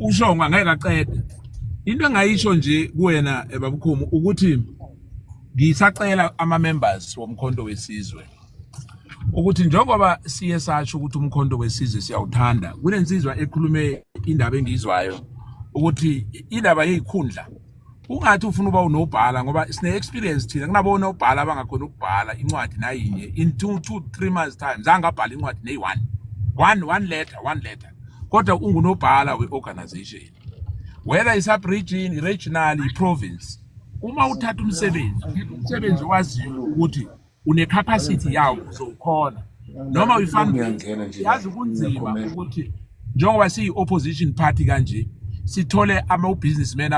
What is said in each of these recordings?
ushongo angeke aqede into engayisho nje kuwena eh, babukhomu ukuthi ngisacela ama members womkhonto wesizwe ukuthi njengoba siye sasho ukuthi umkhonto wesizwe siyawuthanda kunensizwa ekhulume indaba engizwayo ukuthi indaba yezikhundla ungathi ufuna uba unobhala ngoba sine experience thina kunabo nobhala abangakhona ukubhala incwadi nayinye in 2 2 3 months time zange abhala incwadi neyi one one one letter one letter kodwa ungunobhala we organization whether i sub region i regional i province uma uthatha umsebenzi umsebenzi waziyo ukuthi unecapacity yawo uzowukhona noma uyifanele yazi kunzima ukuthi njengoba siyi-opposition party kanje sithole ama-businessmen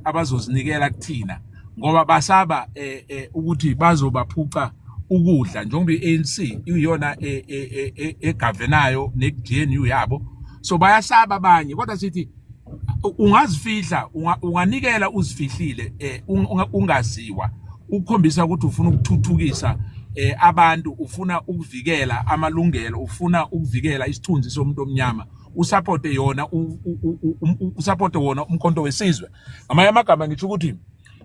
abazozinikela kuthina ngoba basaba eh, eh, ukuthi bazobaphuca ukudla njengoba i-anc iyona e, e, e, egavenayo ne-gnu yabo so bayasaba abanye kodwa sithi ungazifihla unganikela uzifihlile eh, ungaziwa ukukhombisa ukuthi ufuna ukuthuthukisa eh, abantu ufuna ukuvikela amalungelo ufuna ukuvikela isithunzi somuntu omnyama usupporte yona usupporte wona umkhonto wesizwe ngamanye amagama ngisho ukuthi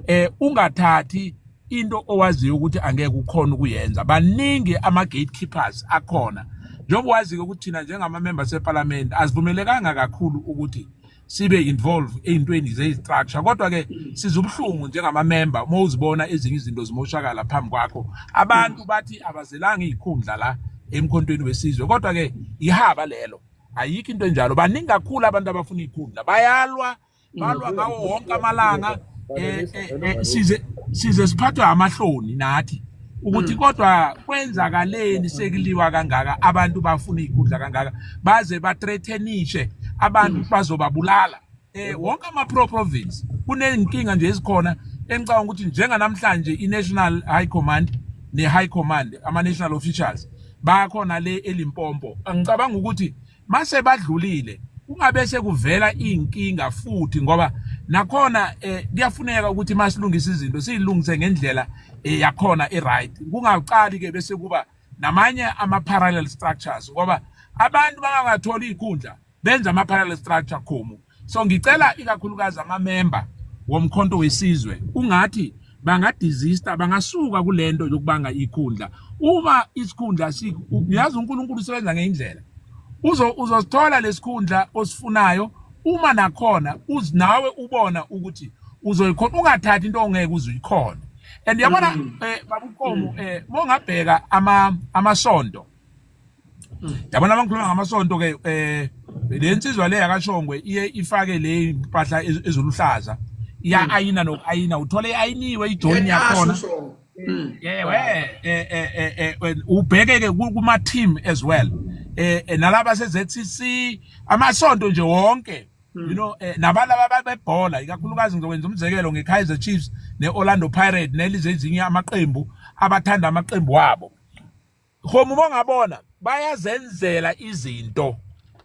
eh ungathathi into owaziyo ukuthi angeke ukhona ukuyenza baningi ama gatekeepers akhona njengoba wazi-ke ukuthi thina njengamamemba sepalamende asivumelekanga kakhulu ukuthi sibe involve ey'ntweni zeyi-structure kodwa-ke siza ubuhlungu njengamamemba uma uzibona ezinye izinto zimoshakala phambi kwakho abantu bathi abazelanga iy'khundla la emkhontweni wesizwe kodwa-ke ihaba lelo ayikho into enjalo baningi kakhulu abantu abafuna iy'khundla bayalwa balwa ngawo wonke amalanga eh, eh, eh, size size siphathwa amahloni nathi ukuthi mm. kodwa kwenzakaleni sekuliwa kangaka abantu bafuna ikhundla kangaka baze ba threatenishe abantu mm. bazobabulala eh wonke ama pro province kunenkinga nje ezikhona engicabanga ukuthi njenga namhlanje i national high command ne high command ama national officials bakhona le elimpompo angicabanga ukuthi mase badlulile kungabe sekuvela inkinga futhi ngoba nakhona eh, kuyafuneka ukuthi masilungise izinto silungise ngendlela eh, yakhona iright kungaqali ke bese kuba namanye ama parallel structures ngoba abantu bangatholi ikhundla benza ama parallel structure khomu so ngicela ikakhulukazi amamemba womkhonto wesizwe ungathi bangadizista bangasuka kulento yokubanga ikhundla uma isikhundla siyazi uNkulunkulu usebenza ngeindlela uzo uzosithola lesikhundla osifunayo uma nakhona uzinawe ubona ukuthi uzoyikhona ungathathi into ongeke uzuyikhona and yabona mm. eh babuqomo mm. eh mongabheka ama amasonto yabona abangikhuluma ngamasonto ke eh le nsizwa le yakashongwe iye ifake le impahla ezoluhlaza iya hmm. ayina nokayina uthole ayiniwe ijoni yakhona hmm. yewe eh, eh, eh, ubheke ke kuma team as well eh nalaba seZCC amasonto nje wonke you hmm. know eh, nabalaba babebhola ikakhulukazi ngizokwenza umzekelo ngeKaizer Chiefs neOrlando Pirates nelize ezinye amaqembu abathanda amaqembu wabo Khoma uma ngabona bayazenzela izinto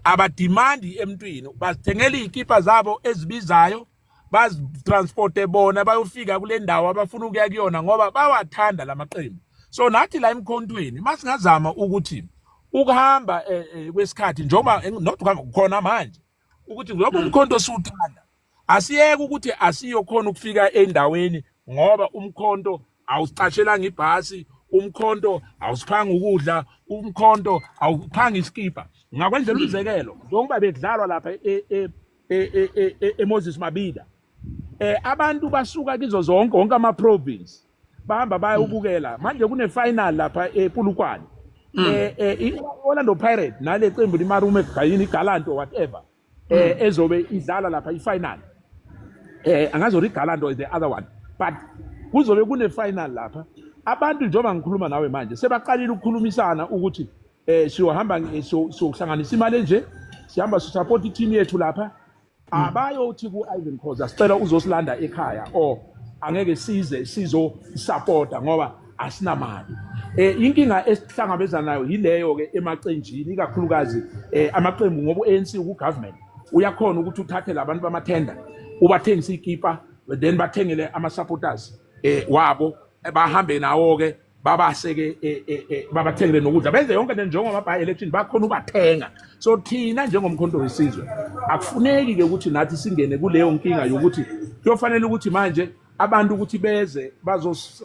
abadimandi emntwini bazithengela izikipa zabo ezibizayo bazitransporte bona bayofika kule ndawo abafuna ukuya kuyona ngoba bawathanda la maqembu so nathi la emkhontweni masingazama ukuthi ukuhamba eh, eh, kwesikhathi njengoba not khona manje ukuthi lobo umkhonto siwuthanda asiyeke ukuthi asiyokhona ukufika endaweni ngoba umkhonto awusicashelanga ibhasi umkhonto awusiphanga ukudla umkhonto awuphanga isikibha ngakwenzela umzekelo njengoba bekudlalwa lapha e, e, e, eMoses Mabida eh abantu basuka kizo zonke wonke ama province bahamba baya hmm. ubukela manje kune final lapha ePulukwane hmm. eh, eh iOrlando Pirates nale qembu limarume gayini iGalant or whatever eh hmm. ezobe idlala lapha ifinal eh angazi uri Galant or the other one but kuzobe kune final lapha abantu njengoba ngikhuluma nawe manje sebaqalile ukukhulumisana ukuthi eh siyohamba eh, siyohlanganisa imali enje sihamba sisupport i-team yethu lapha hmm. abayothi ku-ivan khoza sicela uzosilanda ekhaya or angeke size sizosapota ngoba asinamali um inkinga esihlangabezana nayo yileyo-ke emaqenjini ikakhulukazi um amaqembu ngoba u-anc ukugovernment uyakhona ukuthi uthathe labantu bamathenda ubathengise ikipa then bathengele ama-supporters um wabo bahambe nawo-ke babaseke e, e, e, babathengele nokudla benze yonke into njengoba by election bakhona ubathenga so thina njengomkhonto wesizwe akufuneki ke ukuthi nathi singene kuleyo nkinga yokuthi kuyofanele ukuthi manje abantu ukuthi beze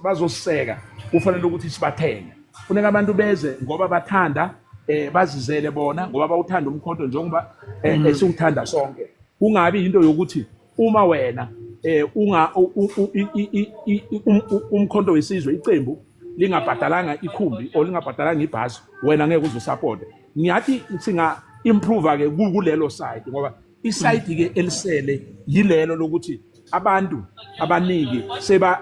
bazoseka kufanele ukuthi sibathenge funeka abantu beze ngoba bathanda eh bazizele bona ngoba bawuthanda umkhonto njengoba eh, mm. esiwuthanda sonke kungabi into yokuthi uma wena eh unga umkhonto wesizwe iqembu lingabhadalanga ikhumbi or lingabhadalanga ibhasi wena ngeke uze support ngiyathi singa improve ke kulelo side ngoba isayidi ke elisele yilelo lokuthi abantu abaningi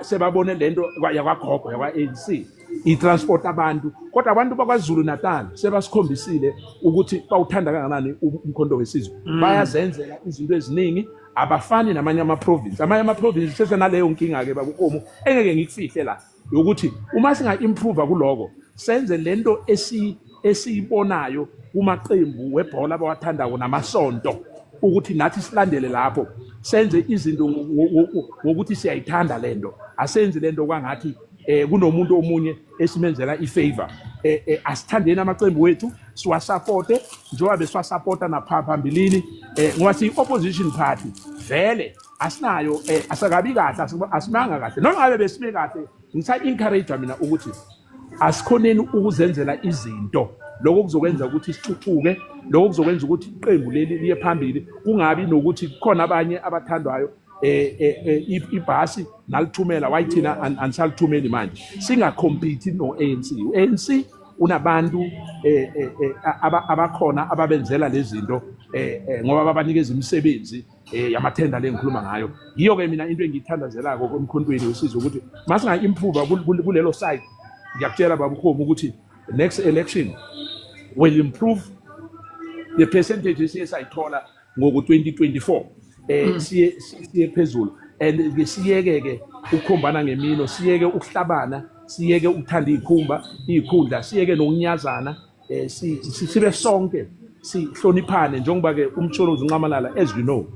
sebabone lento yakwagogo yakwa-ANC i-transport abantu kodwa abantu bakwazulu natal sebasikhombisile ukuthi bawuthanda kanganani umkhonto wesizwe mm. bayazenzela izinto eziningi abafani namanye amaprovinsi amanye amaprovinsi sesenaleyo nkinga-ke bakukomu engeke ngikufihle la yokuthi uma singa-improva kuloko senze le nto esiyibonayo kumaqembu webhola abawathandako namasonto ukuthi nathi silandele lapho senze izinto ngokuthi siyayithanda le nto asenzi le nto kwangathi eh kunomuntu omunye esimenzela ifavor eh, eh asithandeni amaqembu wethu siwasapote njengoba besiwasapota naphambilini eh ngoba siyi opposition party vele asinayo eh asakabi kahle asimanga kahle noma ngabe besime kahle ngisa encourage mina ukuthi asikhoneni ukuzenzela izinto lokho kuzokwenza ukuthi sithuthuke lokho kuzokwenza ukuthi iqembu leli liye phambili kungabi nokuthi kukhona abanye abathandwayo eh, eh, eh, ibhasi nalithumela why thina anisalithumeli manje singacompete no-anc u-anc unabantu eh, eh, eh, abakhona ababenzela lezi zinto ngoba babanikeza imisebenzi yamathenda le ngikhuluma ngayo yiyo-ke mina into engiyithandazelako emkhontweni usiza ukuthi masinga-improva kulelo side ngiyakutshela baba ukhoma ukuthi next election will improve the percentage esiye sayithola ngoku 2024 eh mm. siye siye phezulu and ke siyeke ke ukukhombana ngemino siyeke ukuhlabana siyeke ukuthanda izikhumba izikhundla siyeke nokunyazana eh sibe sonke sihloniphane njengoba ke umtsholozi unqamalala as you know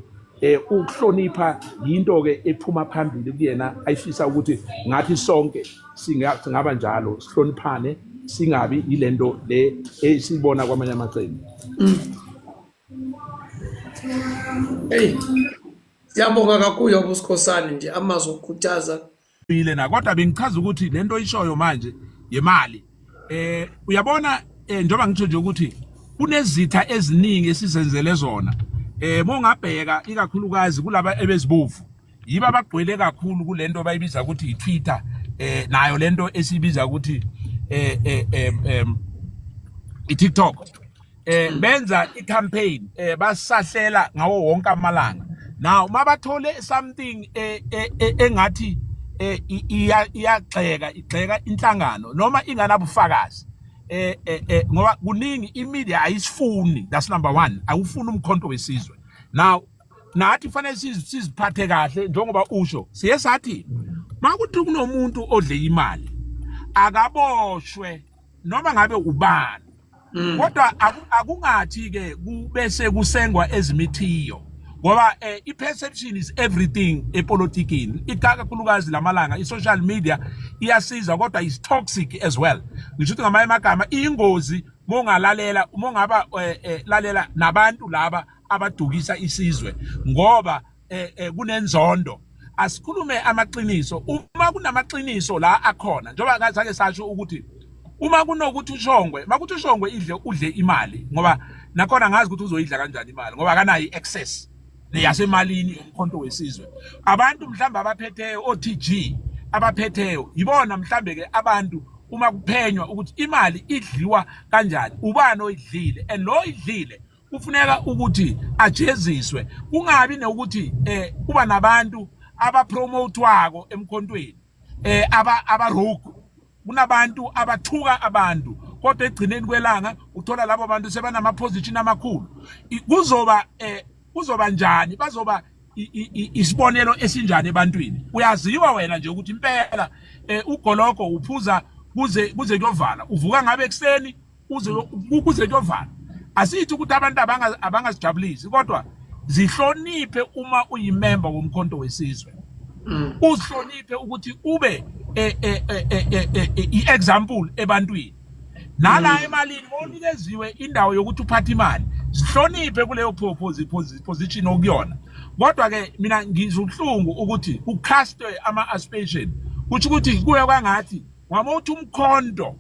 eh ukuhlonipha yinto ke ephuma phambili kuyena ayifisa ukuthi ngathi sonke singaba njalo sihloniphane singabi yilento le esibona kwamanye amaqembu Hey. Siyabonga kakhulu yabo sikhosana nje amazwi okukhuthaza. Ile na kodwa bengichaza ukuthi lento oyishoyo manje yemali. Eh uyabona eh, njengoba ngitho nje ukuthi kunezitha eziningi esizenzele zona. Eh mongabheka ikakhulukazi kulaba ebezibovu. Yiba abagcwele kakhulu kulento bayibiza ukuthi iTwitter eh nayo lento esibiza ukuthi eh eh, eh, eh iTikTok. eh hmm. benza i campaign eh basahlela ngawo wonke amalanga now uma bathole something eh, eh, eh, engathi iyagxeka igxeka inhlangano noma inganabufakazi eh eh ngoba kuningi imedia ayisifuni that's number 1 awufuni umkhonto wesizwe now nathi fanele siziphathe kahle njengoba usho siye sathi makuthi kunomuntu odle imali akaboshwe noma ngabe ubani mm. kodwa akungathi ke kubese kusengwa ezimithiyo ngoba eh, i-perception is everything epolitikini ikakhulukazi lamalanga i-social media iyasiza kodwa is toxic as well ngisho ukuthi ngamanye amagama iyingozi mongalalela mongaba eh, eh, lalela nabantu laba abadukisa isizwe ngoba eh, eh, kunenzondo asikhulume amaqiniso uma kunamaqiniso la akhona njengoba kazake sasho ukuthi uma kunokuthi ushongwe makuthi ushongwe idle udle imali ngoba nakhona ngazi ukuthi uzoyidla kanjani imali ngoba akanayo i-access neyasemalini yomkhonto wesizwe abantu mhlawumbe abaphetheyo o-tg abaphetheyo yibona mhlawumbe ke abantu uma kuphenywa ukuthi imali idliwa kanjani ubani oyidlile and lo idlile kufuneka ukuthi ajeziswe kungabi nokuthi eh kuba nabantu abapromotwako emkhontweni eh aba abarogue kunabantu abathuka abantu kodwa egcineni kwelanga uthola labo bantu sebanama position amakhulu kuzoba eh kuzoba njani bazoba isibonelo esinjani ebantwini uyaziwa wena nje ukuthi impela eh, ugologo uphuza kuze kuze kuyovala uvuka ngabe ekseni ukuze kuyovala asithi ukuthi abantu abangazijabulisi kodwa zihloniphe uma uyimemba womkhonto wesizwe mm. uzihloniphe ukuthi ube e, e, e, i-example ebantwini nala mm. emalini onikeziwe indawo yokuthi uphathe imali sihloniphe kuleyo position okuyona kodwa ke mina ngizwa ubuhlungu ukuthi kucastwe ama-aspation kusho ukuthi kuye kwangathi wama uthi umkhonto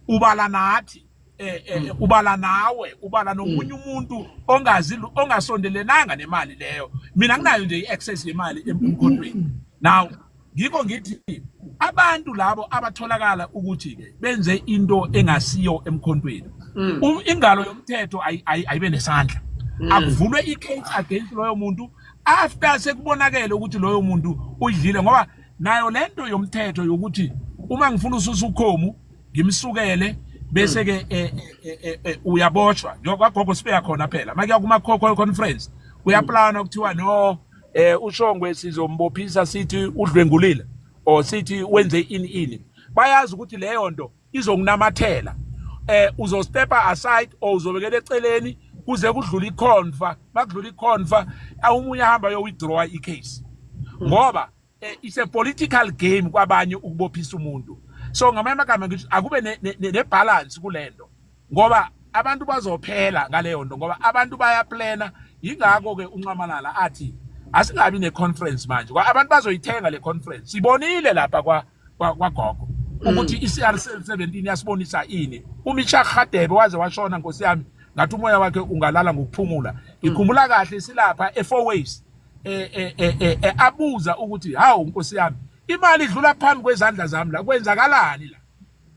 ubala nathi eh, eh mm. ubala nawe ubala nomunye mm. umuntu ongazi ongasondelenanga nemali leyo mina nginayo nje iaccess yemali emkhondweni now ngikho ngithi abantu labo abatholakala ukuthi ke benze into engasiyo emkhontweni mm. um, ingalo yomthetho ayibe nesandla mm. akuvulwe i-case against loyo muntu after sekubonakele ukuthi loyo muntu udlile ngoba nayo lento yomthetho yokuthi uma ngifuna ususa ukhomu ngimsukele bese ke eh, eh, eh, uyaboshwa njengoba gogo sibeya khona phela make yakuma coco conference uyaplana ukuthiwa no eh ushongwe sizombophisa sithi udlwengulile or sithi wenze ini ini bayazi ukuthi leyo nto izonginamathela eh uzostepa aside or uzobekela eceleni kuze kudlule ikhonfa makudlula ikhonfa awumunye ahamba yo withdraw icase ngoba eh, it's a political game kwabanye ukubophisa umuntu so ngamanye amagama ngithi akube nebalance kulento ngoba abantu bazophela ngaleyo nto ngoba abantu bayaplana yingakho ke unxamalala athi asingabi ne-conference manje abantu bazoyithenga le conference sibonile lapha kwa kwagogo mm. ukuthi i-CR 17 yasibonisa ini uMisha Khadebe waze washona nkosi yami ngathi umoya wakhe ungalala ngokuphumula mm. ngikhumbula kahle silapha e4 waves eh, eh, eh, eh abuza ukuthi hawu nkosi yami imali idlula phambi kwezandla zami la kwenzakalani la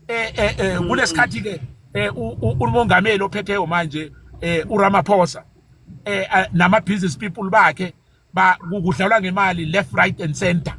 eh eh, eh mm. kulesikhathi ke eh, umongameli ophetheyo manje eh uRamaphosa eh nama business people bakhe ba kudlalwa ngemali left right and center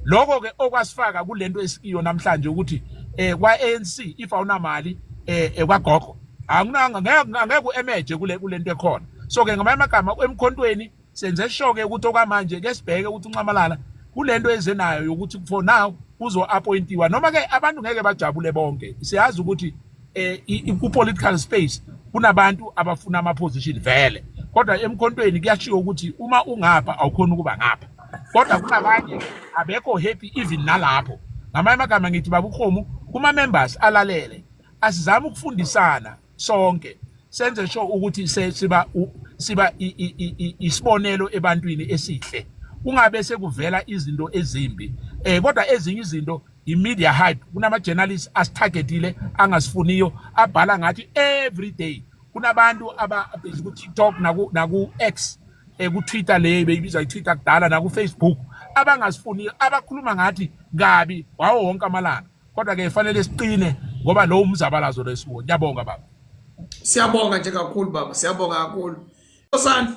lokho ke okwasifaka kulento esikiyo namhlanje ukuthi eh kwa ANC if awunamali eh, eh kwagogo anginanga ngeke ngeke emerge kule kulento ekhona so ke ngamanye amagama emkhontweni senze sure ke ukuthi okwamanje ke sibheke ukuthi unxamalala kulento ezenayo yokuthi for now uzo appointiwa noma ke abantu ngeke bajabule bonke siyazi ukuthi eh ku political space kunabantu abafuna ama position vele kodwa emkhontweni kuyashiwo ukuthi uma ungapha awukhona ukuba ngapha kodwa kunabanye abekho happy even nalapho ngamanye amagama ngithi babukhomu kuma members alalele asizama ukufundisana sonke senze sho ukuthi siba siba isibonelo ebantwini esihle kungabe sekuvela izinto ezimbi eh kodwa ezinye izinto i-media hype kunama-journalist asitargetile angasifuniyo abhala ngathi every day kunabantu ababhizi ku-tiktok naku-x um ku-twitter le beyibizwa i-twitter kudala nakufacebook abangasifuniyo abakhuluma ngathi kabi wawo wonke amalanga kodwa-ke fanele siqine ngoba lowo umzabalazo lesiwo ngiyabonga baba siyabonga nje kakhulu baba siyabonga kakhulu osandla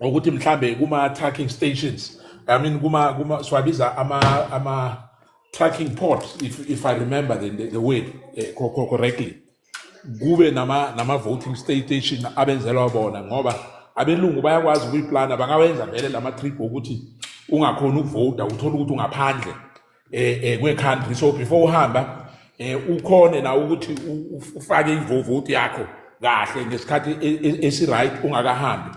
ukuthi mhlambe kuma tracking stations i mean kuma kuma swabiza ama ama tracking ports if if i remember the the, the word eh, correctly kube nama nama voting station abenzelwa bona ngoba abelungu bayakwazi ukuyiplana bangawenza vele lama trip ukuthi ungakhona ukuvota uthola ukuthi ungaphandle eh, eh kwe country so before uhamba eh ukhone na ukuthi ufake ivovoti yakho kahle ngesikhathi e, e, esi right ungakahambi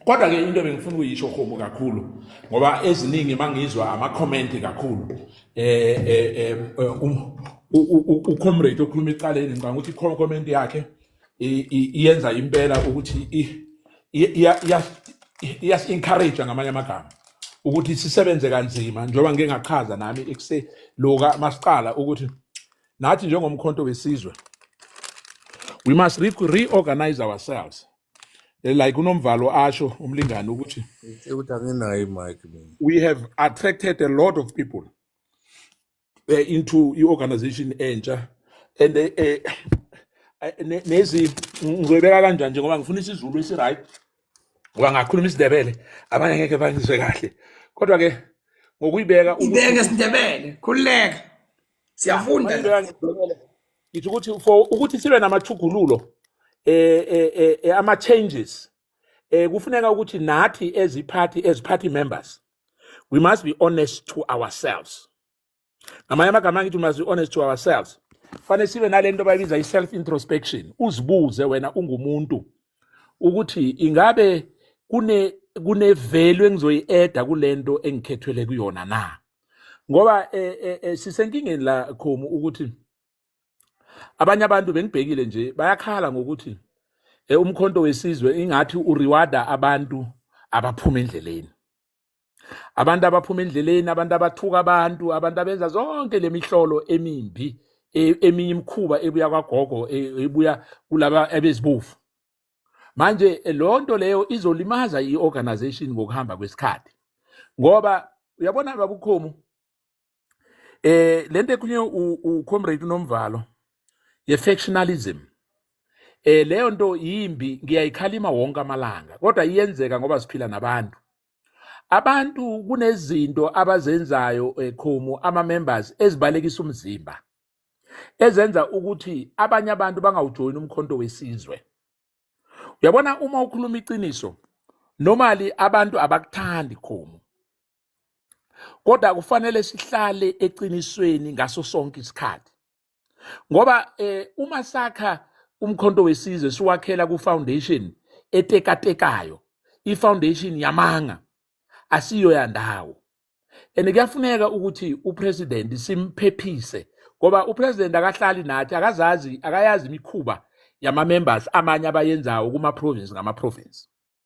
kodwa ke into bengifuna ukuyisho homo kakhulu ngoba eziningi mangizwa ama comment kakhulu eh eh, eh um, u comrade okhuluma icaleni ngicabanga ukuthi comment yakhe iyenza impela ukuthi iyasi-encourage ngamanye amagama ukuthi sisebenze kanzima njengoba ngike ngachaza nami ekuse loka masiqala ukuthi nathi njengomkhonto wesizwe we must re reorganize ourselves eh, like unomvalo asho umlingani ukuthi ukuthi anginayo imike we have attracted a lot of people eh, into i-organization entsha and eh, eh, ne- nezi ngizoyibeka kanjani nje ngoba ngifuna isizulu esi-right ngoba ngakhuluma isidebele abanye ngeke bangizwe kahle kodwa-ke ngokuyibeka ukuthi ibeke sindebele khululeka siyafunda la Mayibeka ngibhekele. Ngithi ukuthi for ukuthi sibe namathugululo eh eh eh, eh, ama changes eh kufuneka ukuthi nathi eziphathi eziphathi members we must be honest to ourselves ngamanye amagama angithi we must be honest to ourselves fanele sibe nale nto bayibiza i-self introspection uzibuze wena ungumuntu ukuthi ingabe kune kunevelu engizoyi-eda kule nto engikhethwele kuyona na ngoba eh, eh, eh, sisenkingeni la khomu ukuthi abanye abantu bengibhekile nje bayakhala ngokuthi eh, umkhonto wesizwe ingathi uriwada abantu abaphuma endleleni abantu abaphuma endleleni abantu abathuka abantu abantu abenza zonke le mihlolo emimbi e, eminye imikhuba ebuya kwagogo e, ebuya kulaba abezibofu manje eh, lo nto leyo izolimaza i-organization ngokuhamba kwesikhathi ngoba uyabona babukhomu eh lento ekhunye ucomrade unomvalo ye-factionalism eh leyo nto yimbi ngiyayikhalima wonke amalanga kodwa iyenzeka ngoba siphila nabantu abantu kunezinto abazenzayo ekhomu eh, ama-members ezibalekisa umzimba ezenza ukuthi abanye abantu bangawujoyini umkhonto wesizwe uyabona uma ukhuluma iqiniso normally abantu abakuthandi khomu kodwa kufanele sihlale eqinisweni ngaso sonke isikhathi ngoba eh, uma sakha umkhonto wesizwe siwakhela ku-foundation etekatekayo i-foundation yamanga asiyo yandawo and kuyafuneka ukuthi upresident simphephise ngoba upresident akahlali nathi akazazi akayazi imikhuba yama-members amanye abayenzayo kuma-province ngama-province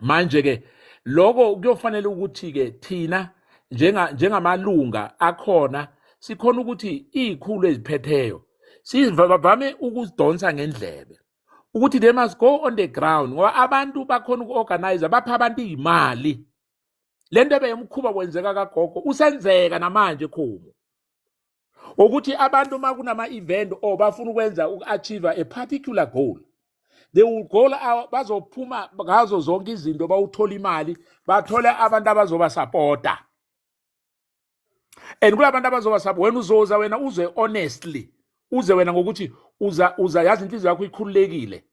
manje ke lokho kuyofanele ukuthi ke thina njenga njengamalunga akhona sikhona ukuthi izikhulu eziphetheyo sivame ukuzidonsa ngendlebe ukuthi they must go on the ground ngoba abantu bakhona uku-organize bapha abantu iy'mali le nto ebeyomkhuba kwenzeka kagogo usenzeka namanje khomu ukuthi abantu uma kunama-event or bafuna ukwenza uku-achieve a particular goal they will go bazophuma ngazo zonke izinto bawuthola imali bathole abantu abazobasapota and kula bantu abazobasapota wena uzoza wena uze honestly uze wena ngokuthi uza uza yazi inhliziyo yakho ikhululekile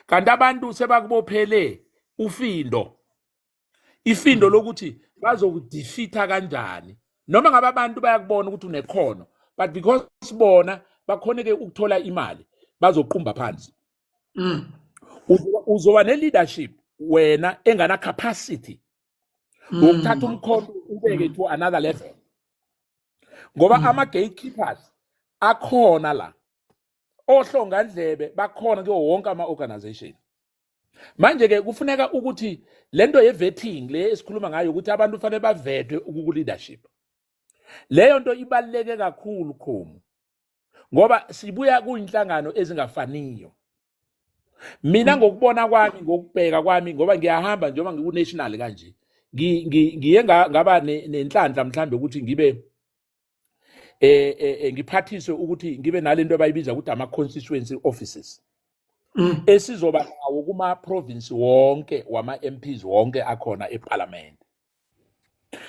kanti abantu sebakubophele ufindo ifindo lokuthi bazokudefeatha kanjani noma ngabe abantu bayakubona ukuthi unekhono but because bona bakhoneke ukuthola imali bazoqumba phansi mm. uzoba ne-leadership wena engana capacity mm. wokuthatha umkhono ubeke to another level ngoba mm. ama-gatekeepers akhona la ohlongandlebe bakhona kuwo wonke ama-organization manje ke kufuneka ukuthi lento yevetting le esikhuluma ngayo ukuthi abantu fanele bavetwe ukuku leadership leyo nto ibaluleke kakhulu khomu ngoba sibuya kuyinhlangano ezingafaniyo mina mm. ngokubona kwami ngokubheka kwami ngoba ngiyahamba njengoba ngiku-national kanje ngiye ngaba nenhlanhla mhlawumbe ukuthi ngibe eh, eh, eh ngiphathiswe ukuthi ngibe nalento abayibiza ukuthi ama constituency offices mm. esizoba nawo kuma province wonke wama MPs wonke akhona eParliament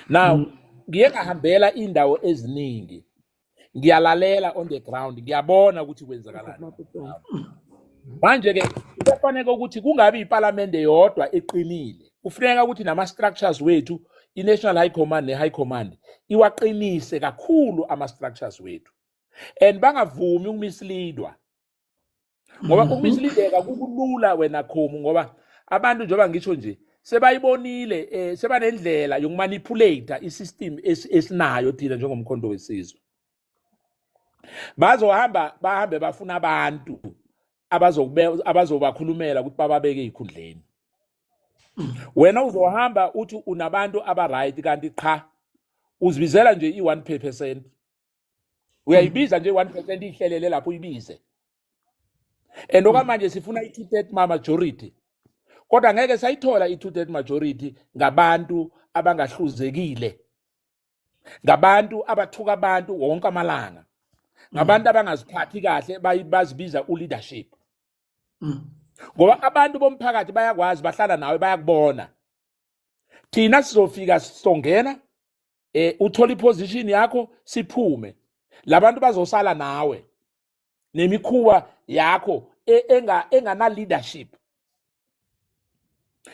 now mm. ngiye ngahambela indawo eziningi ngiyalalela on the ground ngiyabona ukuthi kwenzakalani manje ke kufanele ukuthi kungabi iParliament yodwa eqinile kufuneka ukuthi nama-structures wethu i-national high command ne-high command iwaqinise kakhulu ama-structures wethu and bangavumi ukumislidwa ngoba mhm. ukumislideka kukulula wena khomu ngoba abantu njengoba ngisho nje sebayibonile eh sebanendlela yokumanipulate isystem esinayo thina njengomkhondo wesizwe bazohamba bahambe bafuna abantu abazobakhulumela ukuthi bababeke ezikhundleni wena uzohamba uthi unabantu abaright kanti qha uzibizela nje i-one percent uyayibiza nje i-one percent iyihlelele lapho uyibize and okwamanje sifuna i-two third majority kodwa ngeke sayithola i-two third majority ngabantu abangahluzekile ngabantu abathuka abantu wonke amalanga ngabantu abangaziphathi kahle bazibiza uleadership mm. ngoba abantu bomphakathi bayakwazi bahlala nawe bayakubona thina sizofika sizongena eh uthola iposition yakho siphume labantu bazosala nawe nemikhuba yakho e, enga engana leadership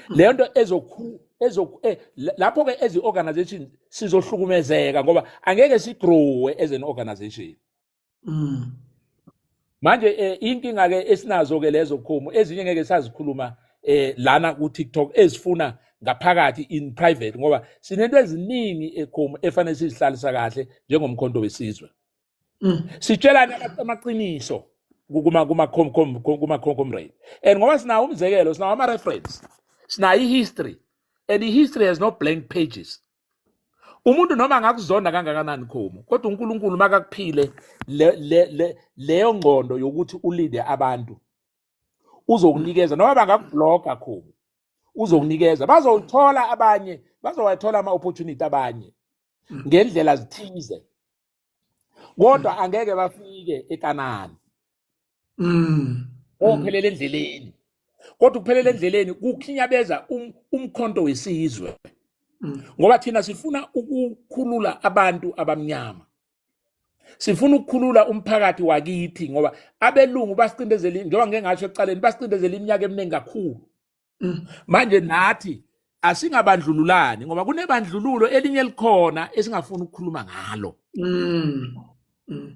leyo nto ezokhu ezokhu eh, lapho ke ezi organization sizohlukumezeka ngoba angeke sigrowe as an organization mm. manje eh, inkinga ke esinazo ke lezo khomo ezinye ngeke sazikhuluma eh lana ku TikTok ezifuna ngaphakathi in private ngoba sinento eziningi ekhomo efanele sizihlalisa kahle njengomkhonto wesizwe Mm. Sitshelane amaqiniso kuma kuma kuma comrade. And ngoba sinawo umzekelo, sinawo ama reference. Sinayo history. And the history has no blank pages. umuntu noma angakuzonda kangakanani khomo kodwa uNkulunkulu makakuphile leyo ngqondo yokuthi ulinde abantu uzokunikeza noma bangakubloga khomo uzokunikeza bazowuthola abanye bazowathola ama-opportunity abanye ngendlela zithize kodwa angeke bafike ekanani mm ophelele endleleni kodwa ukuphelele endleleni kukhinyabeza um, umkhonto wesizwe mm. ngoba thina sifuna ukukhulula abantu abamnyama sifuna ukukhulula umphakathi wakithi ngoba abelungu basicindezela njengoba ngeke ngasho ekuqaleni basicindezela iminyaka eminingi kakhulu Mm. manje nathi asingabandlululani ngoba kunebandlululo elinye elikhona esingafuni ukukhuluma ngalo mm. Mm.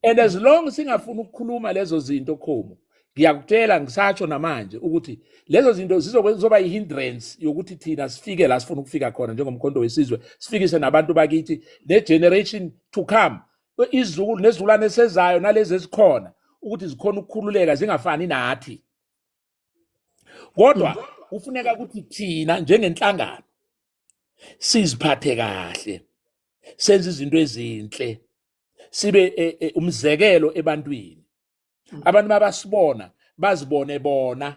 and as long singafuni ukukhuluma lezo zinto khomo ngiyakutshela ngisatsho namanje ukuthi lezo zinto zizoba yi-hindrance yokuthi thina sifike la sifuna ukufika khona njengomkhonto wesizwe sifikise nabantu bakithi ne-generation to come izukulu nezizukulwane esezayo nalezi ezikhona ukuthi zikhona ukukhululeka zingafani nathi kodwa kufuneka ukuthi thina njengenhlangano siziphathe kahle senze izinto ezinhle sibe e, e, umzekelo ebantwini mm. abantu mabasibona bazibone bona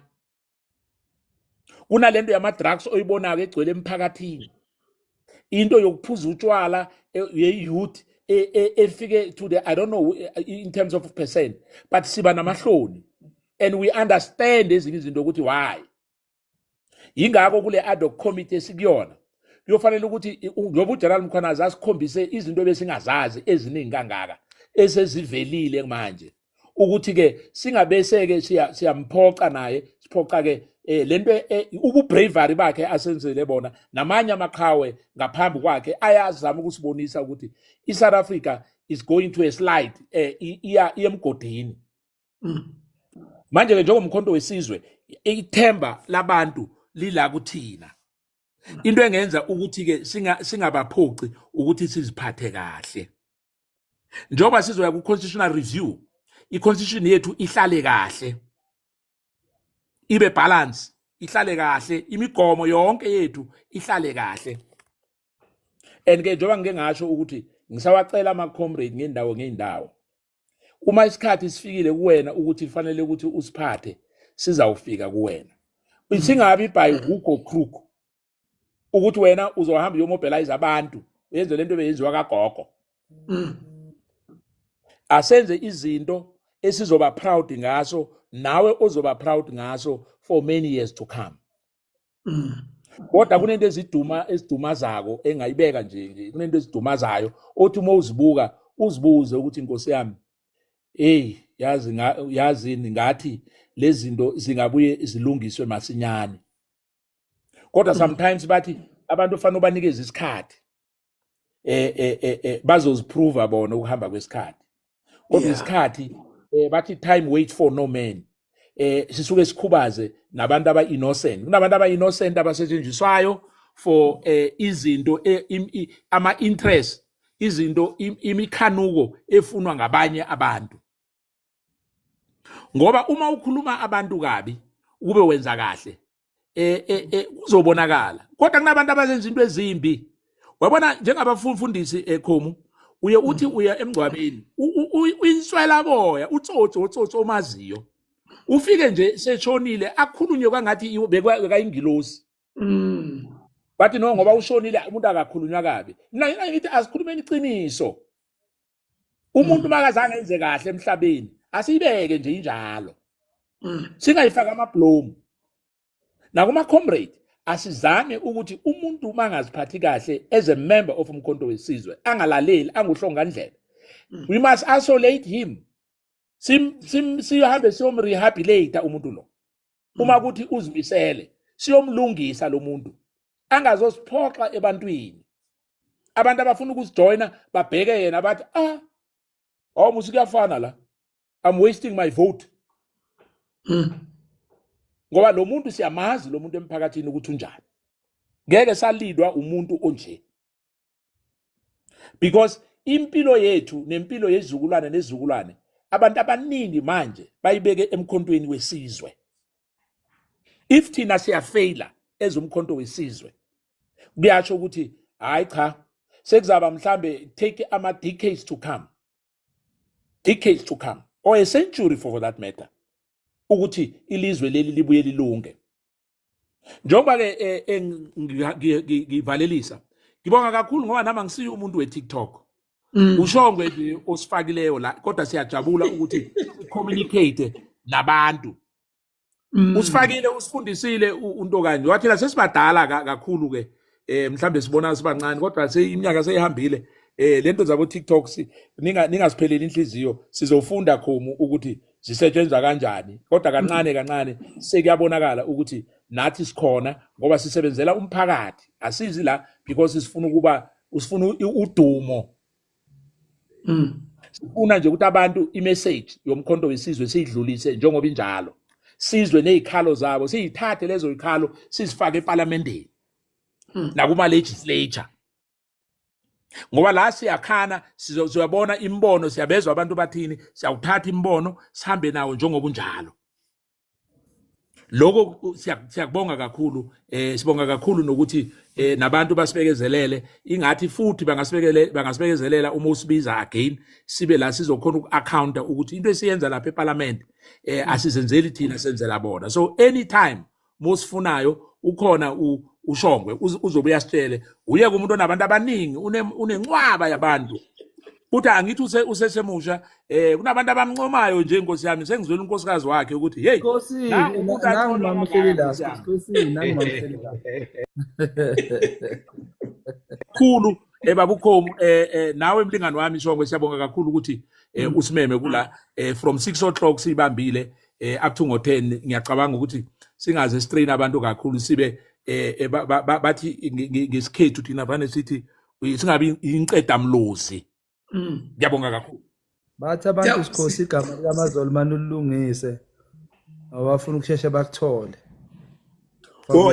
kunalento yama drugs oyibonayo egcwele emphakathini into yokuphuza utshwala eh, ye-youth eh, eh, efike to the i don't know in terms of percent but siba namahloni and we understand ezinye izinto ukuthi why yingakho kule ad hoc committee esikuyona kuyofanele ukuthi njengoba ujeneral mkhwanazi asikhombise izinto ebesingazazi eziningi kangaka esezivelile manje ukuthi ke singabese ke siyamphoxa naye siphoxa ke eh lento eh, ububravery bakhe asenzele bona namanye amaqhawe ngaphambi kwakhe ayazama ukusibonisa ukuthi iSouth Africa is going to a slide eh iya iyemgodini mm. manje ke njengomkhonto wesizwe ithemba labantu lila kuthina into engenza ukuthi ke singabaphoxi ukuthi siziphathe kahle njengoba sizoya ku-constitutional review i-constitution yethu ihlale kahle ibe balance ihlale kahle imigomo yonke yethu ihlale kahle and ke njengoba ngike ngasho ukuthi ngisawacela ama-comrade ngendawo ngey'ndawo uma isikhathi sifikile kuwena ukuthi kufanele ukuthi usiphathe sizawufika kuwena singabi by hook or crook ukuthi wena uzohamba uyomobilize abantu uyenze lento beyenziwa kagogo mm. asenze izinto esizoba proud ngaso nawe ozoba proud ngaso for many years to come mm. kodwa kunento eziduma ezidumazako engayibeka nje nje kunento ezidumazayo othi uma uzibuka uzibuze ukuthi inkosi yami hey yazi yazini ngathi lezi zinto zingabuye zilungiswe masinyane kodwa sometimes bathi abantu kufanele ubanikeze isikhathi eh eh eh, eh bazoziprova bona ukuhamba kwesikhathi kodwa isikhathi eh, bathi time wait for no man eh sisuke sikhubaze nabantu aba innocent kunabantu aba innocent abasetshenziswayo for eh, izinto eh, ama interest izinto imikhanuko efunwa ngabanye abantu ngoba uma ukhuluma abantu kabi ube wenza kahle eh eh, eh kuzobonakala kodwa kunabantu abazenza into ezimbi wabona njengabafundisi ekhomu eh, uye uthi uya emngcwabeni uyinswela boya utsotsi otsotsi omaziyo ufike nje seshonile akhulunywe kwangathi bekayingilosi mm. bathi no ngoba ushonile umuntu akakhulunywa kabi mina ngithi asikhulumeni iqiniso umuntu mm. makazange enze kahle emhlabeni asiyibeke nje injalo mm. singayifaka amablomu nakuma comrade asizame ukuthi umuntu uma angaziphathi kahle as a member of umkhonto wesizwe angalaleli anguhlongandlela mm. we must isolate him sihambe siyomrehabilitate umuntu lo uma mm. kuthi uzimisele siyomlungisa lo muntu angazosiphoxa ebantwini abantu abafuna ukusijoyina babheke yena bathi ah awu musi kuyafana la i'm wasting my vote mm. ngoba lo muntu siyamazi lo muntu emphakathini ukuthi unjani ngeke salidwa umuntu onje because impilo yethu nempilo yezizukulwane nezizukulwane abantu abaningi manje bayibeke emkhontweni wesizwe if thina siyafeyila ezomkhonto wesizwe kuyasho ukuthi hayi cha sekuzaba mhlambe take ama decades to come decades to come or a century for that matter ukuthi ilizwe leli libuye lilunge njengoba-ke eh, eh, ngivalelisa ngibonga kakhulu ngoba nami angisiyo umuntu we-tiktok mm. ushongwe nje osifakileyo la kodwa siyajabula ukuthi communicate nabantu mm. usifakile usifundisile unto kanje wathina sesibadala kakhulu-ke eh mhlambe sibona sibancane kodwa seyiminyaka seyihambile eh lento zabo TikTok ninga ningasipheleli inhliziyo sizofunda khomu ukuthi zisetshenzwa kanjani kodwa kancane kancane sekuyabonakala ukuthi nathi sikhona ngoba sisebenzela umphakathi asizi la because sifuna ukuba usifuna udumo mm sifuna nje ukuthi abantu imessage yomkhonto wesizwe siyidlulise njengoba injalo sizwe nezikhalo zabo siyithathe lezo zikhalo sizifake eParliamentini hmm. nakuma legislature ngoba la siyakhana sizoyabona imbono siyabezwa abantu bathini siyawuthatha imbono sihambe nawo njengoba unjalo lokho siyakubonga kakhulu eh sibonga kakhulu nokuthi eh nabantu basibekezelele ingathi futhi bangasibekele bangasibekezelela uma usibiza again sibe la sizokhona uku-accounta ukuthi into esiyenza lapha eparlament eh asizenzeli thina senzela bona so anytime mosifunayo ukhona ushongwe uzobe uyasitshele uye kumuntu onabantu abaningi unenqwaba yabantu futhi angithi use usesemusha eh kunabantu abamncomayo nje inkosi yami sengizwela unkosikazi wakhe ukuthi hey inkosi nangu mama uhleli la inkosi nangu mama uhleli la khulu eh babukhomu eh, eh nawe mlingani wami shongwe siyabonga kakhulu ukuthi eh, usimeme kula eh, from 6 o'clock sibambile eh up to ngo 10 ngiyacabanga ukuthi singaze strain abantu kakhulu sibe eh, eh bathi ngesikhethu thina vane sithi singabi inqeda mlozi mm. ngiyabonga kakhulu bathi abantu sikhosi igama likamazolo mani ulungise awafuna ukusheshe bakuthole oh,